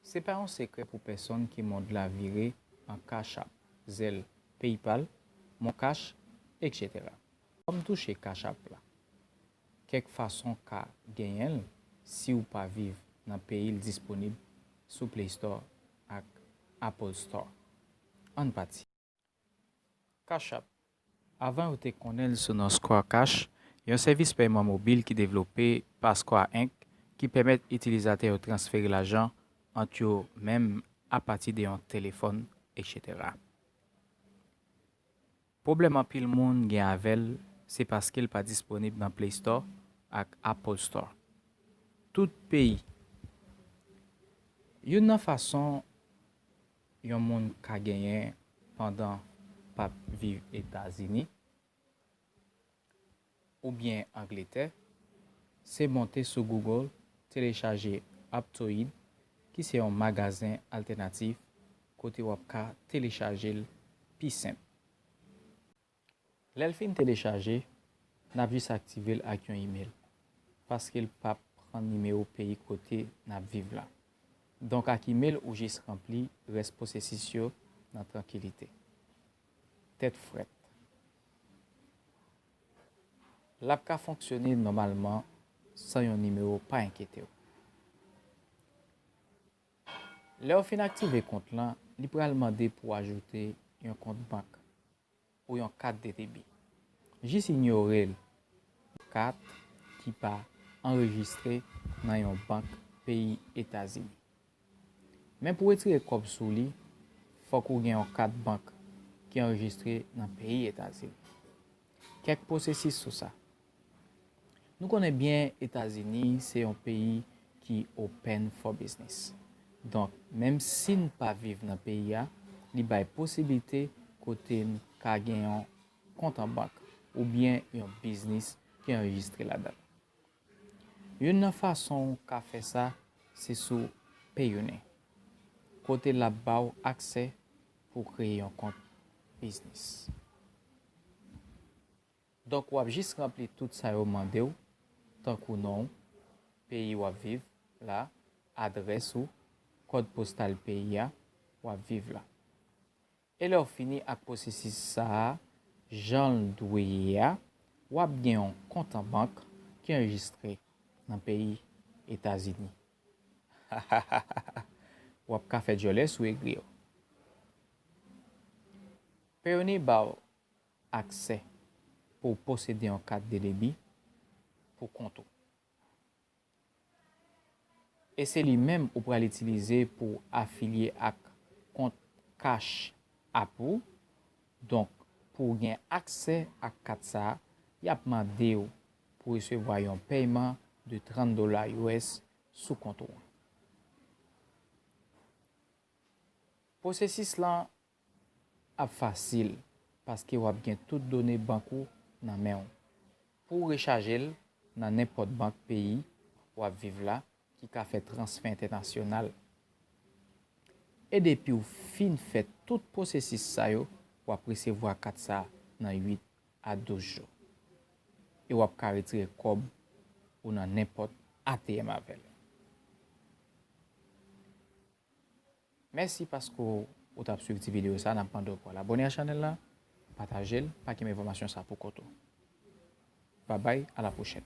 Se pa yon sekrè pou pèsonn ke mond la vire an Cash App, Zelle, PayPal, Moncash, etc. Kòm touche Cash App la kèk fason ka genyen l siw pa viv nan peyi l disponib sou Play Store ak Apple Store. Ann pati. Cash App, Avan yo te konnen l sou non Square Cash, yon sèvis pèyman mobil ki devlope pa Square Inc. Ki pèmèt itilizatè yo transfere lajan ant yo menm apati de yon telefòn, etc. Pwoblèm anpil moun gen avè l se paske l pa disponib nan Play Store ak Apple Store tout peyi. Youn nan fason Yon moun ka genyen pandan pap viv etazini ou byen angletè se monte sou google telechaje aptoid ki se yon magazen altènatif kote wap ka telechajel pi senp. Lèl fin telechaje nap jis aktivel ak yon email paskel pap pran nimewo peyi kote nap viv la donk ak email ou jis ranpli rès posesis yo nan trankilite tèt frèt lap ka fonksyone nòmalman san yon nimewo pa enkyetew lèw fin aktive kont lan li pral mande pou ajoute yon kont bank. pou yon kat de debi. Jis inyore l pou kat ki pa anrejistre nan yon bank peyi Etazini. Men pou retire kòb sou li, fòk ou gen yon kat bank ki anrejistre nan peyi Etazini. Kèk pwosesis sou sa. Nou konnen byen Etazini se yon peyi ki open for business. Donk menm si n pa viv nan peyi a, li bay posiblite kote n ka gen yon kont an bank oubyen yon biznis ki anrejistre ladan l. Youn nan fason w ka fè sa se sou Payoneer, kote l ap ba w aksè pou w kreye yon kont biznis. Donk w ap jis ranpli tout sa yo mande w, tankou non w, peyi w ap viv la, adrès ou, kòd postal peyi a w ap viv la. E lè w fini ak pwosesis sa a jan l dwe ye a, w ap gen yon kont an bank ki anrejistre nan peyi Etazini. Hahahaha! W ap ka fè dyòlè sou egri yo. Peony ba w Aksè pou w posede yon kat de debi pou kont ou. E se li menm ou pral itilize pou w afilye ak kont Cash App ou. Donk, pou w gen aksè ak kat sa, y ap mande w pou resevwa yon pèyman de 30 dola us sou kont ou an. Pwosesis lan ap fasil paske wap gen tout done bank ou nan menw pouw rechajel nan nenpòt bank peyi wap viv la ki ka fè transfè entènasyonal e depiw fin fè tout pwosesis sa yo wap resevwa kat sa nan 8 a 12 jou e wap ka retire kòb ou nan nenpòt ATM avèl. Mèsi paske ou tap swiv ti video sa nap mande w pou al abone a chanèl la pataje l pa kenbe enfòmasyon sa pou kont ou babay a la pwochèn.